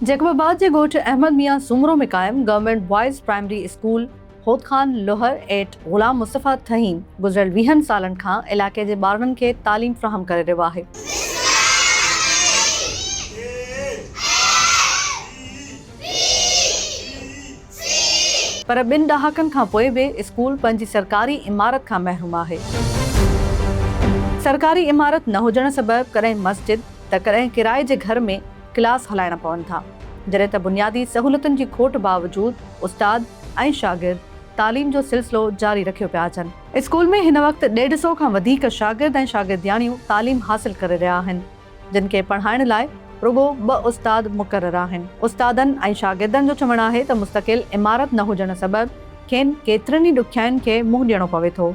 Jacob آباد جي ڳوٺ احمد ميان سومرو ۾ قائم government boys primary school, Hud Khan Lohar ۽ Ghulam Mustafa Thaheem گذريل ويهن سالن کان علائقي جي ٻارڙن کي تعليم فراهم ڪري رهيو آهي. پر ٻن ڏهاڪن کان پوء به اسڪول پنهنجي سرڪاري عمارت کان محروم آهي. سرڪاري عمارت نه هجڻ سبب ڪڏهن مسجد ته ڪڏهن ڪرائي جي گهر ۾ ڪلاس هلائڻا پون ٿا، جڏهن ته بنيادي سهولتن جي کوٽ باوجود استاد ۽ شاگرد تعليم جو سلسلو جاري رکيو پيا اچن. اسڪول ۾ هن وقت ڏيڍ سو کان وڌيڪ شاگرد ۽ شاگردياڻيون تعليم حاصل ڪري رهيا آهن، جن کي پڙهائڻ لاء رڳو ٻه استاد مقرر آهن. استادن ۽ شاگردن جو چوڻ آهي ته مستقل عمارت نه هجڻ سبب کين ڪيترين ئي ڏکيائين کي منهن ڏيڻو پوي ٿو.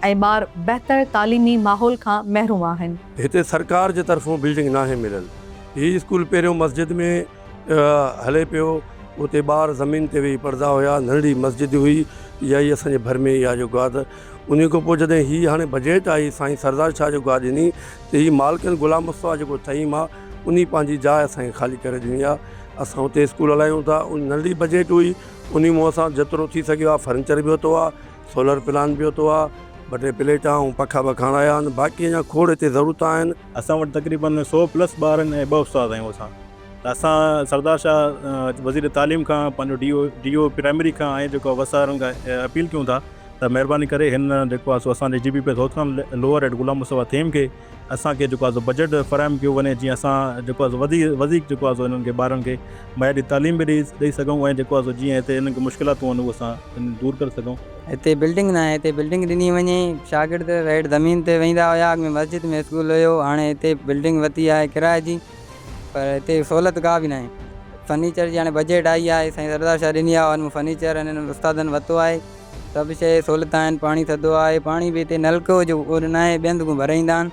۽ ٻار بهتر تعليمي ماحول کان محروم آهن. هتي سرڪار جي طرفون بلڊنگ ناهي مليل هي اسڪول پهريون مسجد ۾ هلي پيو اتي ٻار زمين تي ويهي پڙهدا هيا ننڍڙي مسجد هئي اها ئي اسان جي ڀر ۾ ئي آهي جو گاد انهي کان پوء جڏهن هي هاڻي بجيٽ آئي سائين سردار شاهه جو گاد ڏني ته هي مالڪن غلام مصطفيٰ جيڪو ٿهيم آهي انهي پنهنجي جاء اسان کي خالي ڪري ڏني آهي اسان اتي اسڪول هلايون ٿا ننڍڙي بجيٽ هئي انهي مون اسان جيترو ٿي سگهيو آهي فرنيچر به ورتو آهي. سولر پلانٽ به اتو آ ٻه ٽي پليٽا ۽ پکا به کڻايا آھن باقي اڃان کوڙ اتي ضرورت آھن. اسان وٽ تقريبن سؤ پلس ٻار آھن ۽ ٻه استاد آھيون اسان ته اسان سردار شاھ وزير تعليم کان پنھنجو D O D O primary کان ۽ جيڪو وس آھي انھن کان اپيل ڪيون ٿا ته مھرباني ڪري ھن جيڪو آھي سو اسان جي G B P S Hothran lower head Ghulam Mustafa Thaheem کي اسان کي جيڪو آهي بجيٽ فراهم ڪيو وڃي جيئن اسان جيڪو آهي وڌي وڌيڪ جيڪو آهي انهن کي ٻارن کي معياري تعليم به ڏئي سگهون ۽ جيڪو آهي جيئن هتي انهن کي مشڪلاتون آهن اهو اسان انهن دور ڪري سگهون. هتي بلڊنگ ناهي هتي بلڊنگ ڏني وڃي شاگرد ريڊ زمين تي ويندا هيا اڳ ۾ مسجد ۾ اسڪول هيو هاڻي هتي بلڊنگ ورتي آهي ڪرايي جي پر هتي سهولت ڪا به ناهي فرنيچر جي هاڻي بجيٽ آئي آهي سائين سردار شاهه ڏني آهي ان مان فرنيچر هنن استادن ورتو آهي. سڀ شيء سھولت آھن پاڻي ٿڌو آھي پاڻي به ھتي نلڪو جو اھو ناھي ٻين ھنڌ کان ڀري ايندا آھن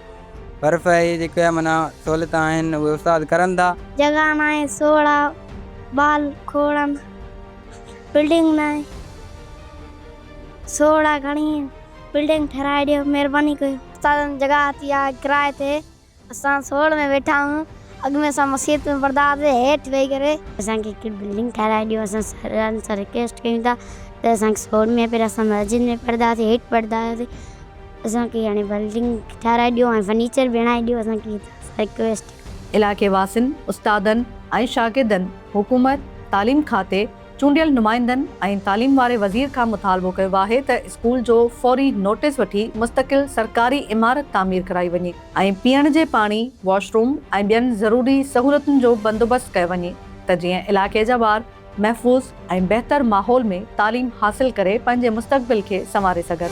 برف اھي جيڪي معنيٰ سھولت آھن اھي استاد ڪرن ٿا. جڳھه ناھي سوڙھا ٻال کوڙن بلڊنگ ناھي سوڙھا گھڻي بلڊنگ ٺھرائي ڏيو مھرباني ڪيو. استادن جڳھه ھتي آھي ڪرايي تي اسان سوڙهه ۾ ويٺا آهيون اڳ ۾ اسان مسيت ۾ پڙهندا هئاسين هيٺ ويهي ڪري. اسان کي هڪڙي بلڊنگ ٺهرائي ڏيو اسان سرن سان رڪويسٽ ڪيون ٿا ته اسان کي سوڙهه ۾ پهريان اسان مسجد ۾ پڙهندا هئاسين هيٺ پڙهندا هئاسين اسان کي هاڻي بلڊنگ ٺهرائي ڏيو ۽ فرنيچر به هڻائي ڏيو اسان کي رڪويسٽ. علائقي واسين، استادن ۽ شاگردن حڪومت، تعليم کاتي، چونڊيل نمائندن ۽ تعليم واري وزير کان مطالبو ڪيو آهي ته اسڪول جو فوري نوٽيس وٺي مستقل سرڪاري عمارت تعمير ڪرائي وڃي ۽ پيئڻ جي پاڻي، واش روم ۽ ٻين ضروري سهولتن جو بندوبست ڪيو وڃي ته جيئن علائقي جا ٻار محفوظ ۽ بهتر ماحول ۾ تعليم حاصل ڪري پنهنجي مستقبل کي سنواري سگهن.